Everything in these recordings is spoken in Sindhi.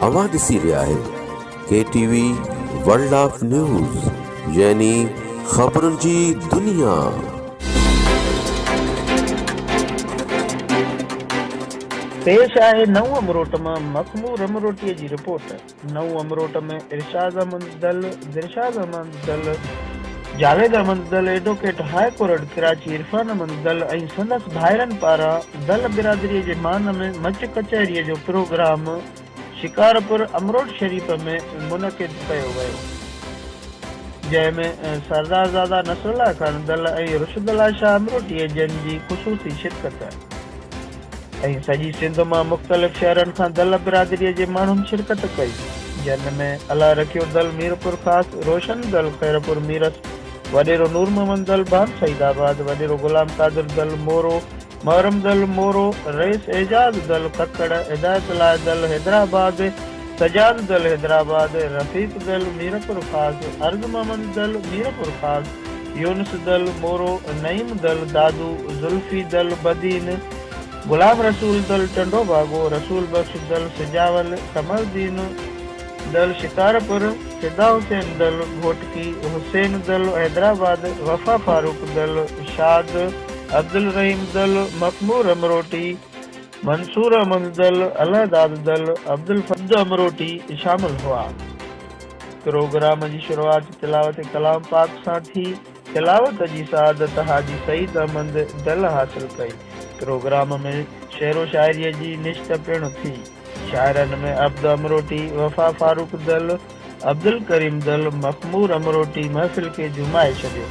اوهان ڏسي رهيا آهيو K T V world of news يعني خبرن جي دنيا. پيش آهي نئون امروٽ مان مخمور امروٽي جي رپورٽ. نئون Amrot ۾ Irshad Ahmed Dal, Dilshad Ahmed Dal, Javed Ahmed ڊل، advocate high court Karachi Irfan Ahmed ڊل ۽ سندس ڀائرن پاران ڊل برادري جي مان ۾ مچ ڪچهري جو پروگرام شڪارپور امروٽ شريف ۾ منعقد ڪيو ويو جنهن ۾ سردارزاده نصرالله خان ڊل ۽ رشدالله شاهه امروٽي جن جي خصوصي شرڪت ۽ سڄي سنڌ مان مختلف شهرن کان دل برادريء جي ماڻهن شرڪت ڪئي، جن ۾ الله رکيو دل ميرپورخاص، روشن دل خيرپور ميرس، وڏيرو نور محمد دل بان سعيد آباد، وڏيرو غلام قادر دل مورو، محرم دل مورو، رئيس اعجاز دل ککڙ، هدايت الله دل حيدرآباد، سجاد دل حيدرآباد، رفيق دل ميرپورخاص، عرض محمد دل ميرپورخاص، يونس دل، مورو، نعيم دل، دادو، زلفي دل، بدين، غلام رسول دل، ٽنڊو باگو، رسول بخش دل، سجاول، قمردين دل، شڪارپور، فدا حسين دل، گهوٽڪي، حسين دل، حيدرآباد، وفا فاروق دل، شاد، عبدالرحيم دل، مخمور امروٽي، منصور احمد دل، الهداد دل، عبدالفرد امروٽي شامل هئا. پروگرام جي شروعات تلاوت ڪلام پاڪ سان ٿي، تلاوت جي سعادت حاجي سعيد احمد ڊل حاصل ڪئي، پروگرام ۾ شعر و شاعريء جي نشت پڻ ٿي، شاعرن ۾ عبد امروٽي، وفا فاروق ڊل، عبدالڪريم ڊل، مخمور امروٽي محفل کي جهومائي ڇڏيو،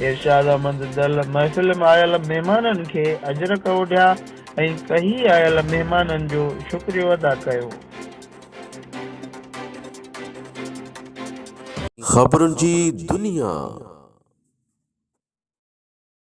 ارشاد احمد ڊل محفل ۾ آيل مهمانن کي اجرڪ اوڍيا ۽ ڪهي آيل مهمانن جو شڪريو ادا ڪيو. خبرن جي دنيا.